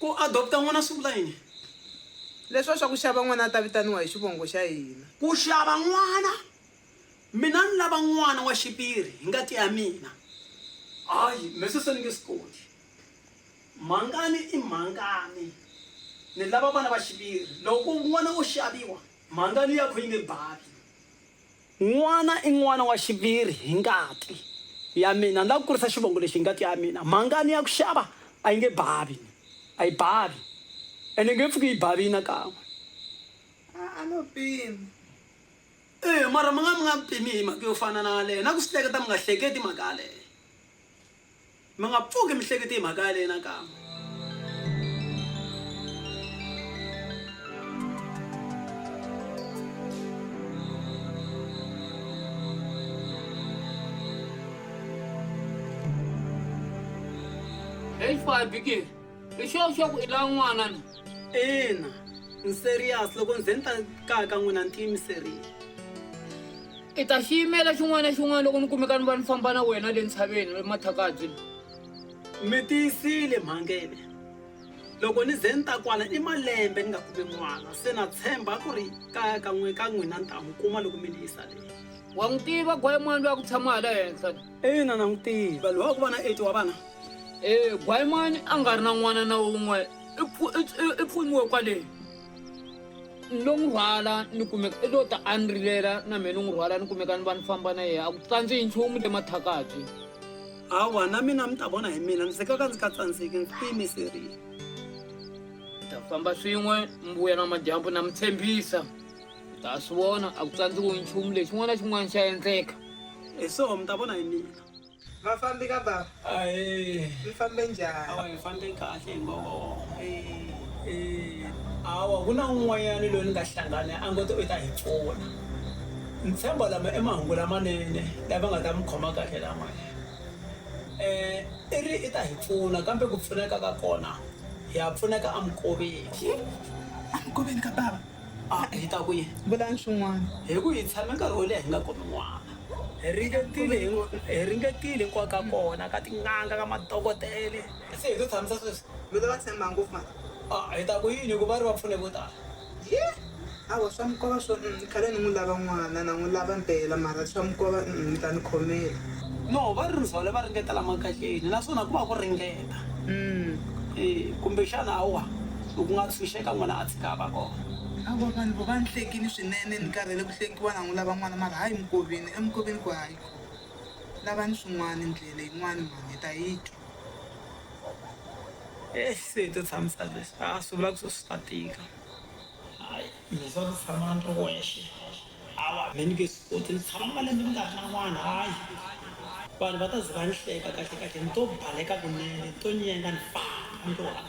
Ku adopta n'wana swi vula yini? Leswiwa swa ku xava n'wana a ta vitaniwa hi xivongo xa hina. Ku xava n'wana, Mina ni lava n'wana wa xiviri hi ngati ya mina. Hayi, me sweswo ni nge swi koti. Mhangani i mhangani. Ni lava vana va xiviri. Loko n'wana o xaviwa, mhangani yakho yi nge bavi. N'wana i n'wana wa xiviri hi ngati ya mina. Ni lava ku kurisa xivongo lexi hi ngati ya mina. Mhangani ya ku xava a yi nge bavi. A yi bavi. Ene yi nge pfuki yi bavile nakan'we. A a no pima. Eya, mara mi nga mi nga pimi hi mhaka yo fana na yaleyo. Na ku swi hleketa mi nga hleketi mhaka yaleyo. Mi nga pfuki mi hlekete hi mhaka yaleyo nakambe. Hey, Fire Biggie. i sure sure ku i lava n'wana na ina ni serious loko ni ze ni ta kaya ka n'wina ni tiyimiserile i ta xi yimela xin'wana na xin'wana loko ni kumeka ni va ni famba na wena le ntshaveni emathakabyi mi tiyisile mhangele loko ni ze ni ta kwala i malembe ni nga kumi n'wana se na tshemba ku ri kaya ka n'we ka n'wina ni ta n'wi kuma loko mi ni yisa leyi wa n'wi tiva gwayi mwana loyi a ku tshama hala henhla Ina, langutile, va lwa ku va na 80 wa vana. E, Gwayimani a nga ri na n'wana na un'we, i pfu, i, i, i pfuniwe kwale. Ni lo n'wi rhwala, ni kumeka, i lo ta a ni rilela, na mina ni n'wi rhwala, ni kumeka ni va ni famba na yena, a ku tsandzihi nchumu le mathakabyi. Hawa, na mina mi ta vona hi mina, ndzi ka ka ndzi nga tsandzeki, ndzi tiyimiserile. Hi ta famba swin'we, mi vuya namadyambu, na mi tshembisa. ta swi vona a ku tsandziwi nchumu lexi xin'wana na xin'wana xa endleka hi soho mi ta vona hi mina vafambi ka baba mi fambe njhani fambe kahle hi ngoho awa ku na un'wanyana loyi ni nga hlangana a ngo ti u ta hi pfuna ni tshemba lama i mahungu lamanene lava nga ta mi khoma kahle lamaya um i ri i ta hi pfuna kambe ku pfuneka ka kona ha pfuneka eminkoveni eminkoveni ka bava A hi ta ku yini? Vulani swin'wana. Hi ku hi tshame nkarhi wo leha hi nga kumi n'wana. Hi ringetile hi ringetile hinkwayo ka kona, ka tin'anga, ka madokodele. Se hi lo tshamisa sweswi. Mi lo va tshemba ngopfu mara. A hi ta ku yini hi ku va ri va pfune vo tala. Hi! Hawa swa mi kova swo umm khale ni n'wi lava n'wana, na n'wi lava mpela mara swa mi kova umm mi ta ni khomela. No, va ri ndzhole va ringeta la makatleni naswona ku va ku ringeta. Umm. Eya, kumbexana hawa. I ku nga tshunxeka n'wana a tshika a va kona. Hawa vanhu vo va ni hlekini swinene ni karhele ku hlekiwa na n'wi lava n'wana mara hayi mukoveni emukoveni ku hayi ko lavani swin'wani ndlela yin'wani mhani hi ta yi twa. Eyi se hi to tshamisa leswi a swi vula ku swi ta tika. Hayi mina swa ku tshama ni ri wexe hawa me ni nge swi koti ni tshama malembe ni nga ri na n'wana hayi vanhu va ta ze va ni hleka kahlekahle ni to baleka kunene ni to nyenga ni famba ni ri one.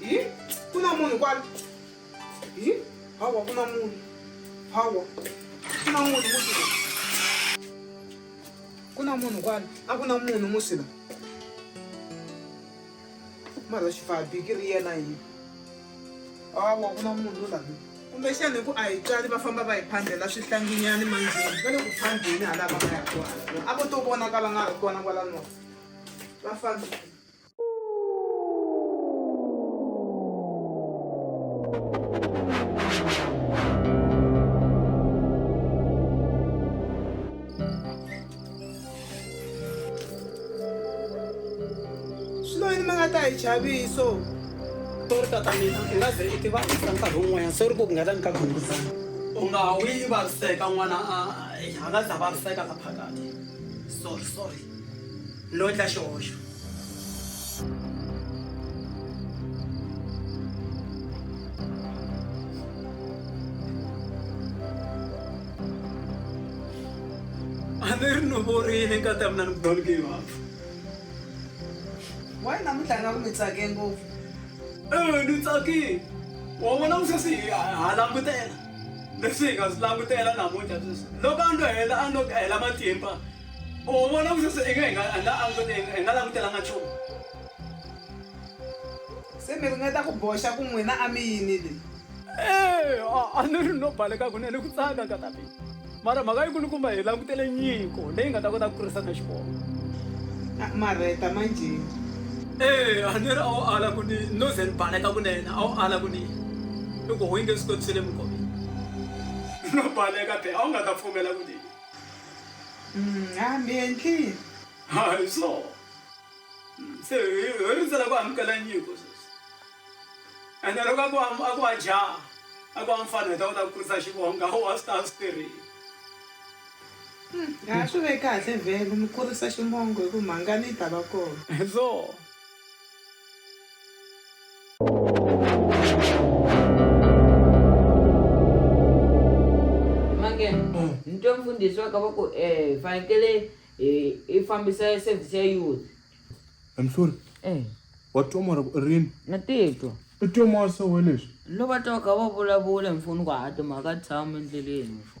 hi ku na munhu kwala hi hawa ku na munhu hawa ku na munhu musila ku na munhu kwala a ku na munhu musila mara xifabi ki ri yena yini hawa ku na munhu lavi kumbexana hi ku a hi tswali va famba va hi phandlela swihlanginyani mandzeni va le ku phandleni halava va ya kona a vo to vonakala nga ri kona kwala nova va fambile chaviso to ri tata mina i nga ze i tiva i ka nkarhi wun'wanyana se ri ku ku nga ta ni ka khunguzana u nga wi i vaviseka n'wana a nga za vaviseka la phakati sorry sorry No endla xihoxo. A ni ri ni vorile nkata mina ni don't give up. Why namuntlha nga ku mi tsake ngopfu? Eh, ni tsakile. Wa vona ku sweswi hi ha langutela. Leswi hi nga swi langutela namuntlha sweswi. Loko a ndo hela a ndo hela matimba. U vona ku sweswi inge hi nga hi nga angute hi nga- hi nga langutelanga nchumu se mi ringeta ku boxa ku n'wina a mi yinile Eh, a- a ni ri no baleka kunene ku tsaka ka tapi mara mhaka yi kulukumba hi langutele nyiko leyi nga ta kota ku kurisa na xikolo Ah, marheta manjheni Eh, a ni ri a wu ala ku ni no ze ni baleka kunene a wu ala ku ni loko ho yinge swi kotisele mukombe no baleka be a wu nga ta pfumela ku ni Mm, ah, mi endlile. Hayi so. Mm, Se hi hi rindzela ku amukela nyiko sweswi. Ene loko a ku am- a ku wa jaha, a ku wa mfana hi ta kota ku kurisa xivonga, ho wa swi ta swi tirhile. Ha swi ve kahle vhele mi kurisa ximongo hi ku mhangani yi ta va kona. So. mange nitwe mfundhisi wa kavoko um fanekele hi hi fambisa service ya youth I'm sorry. Eh, Wa twa mara ku rini? na titwa I twa mara se we leswi. loko va twa va kha va vulavula mfuni ku hato mhaka tshama endleleni mfo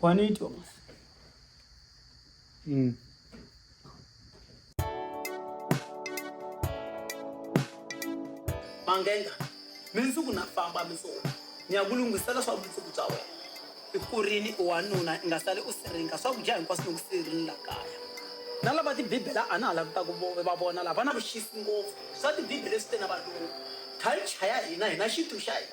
Kwani Thomas. Mm. Mangenga, mindzuku na famba mindzuku. Ni ya ku lunghisela swa vumundzuku bya wena. I kurini u wanuna i nga sali u siringa swakudya hinkwaswo ni ku sirini la kaya. Na lava tibibela a na ha lavi ta ku vo- va vona lava na vuxisi ngopfu. Swa tibibele swi te na valungu. Culture ya hina hi na xintu xa hina.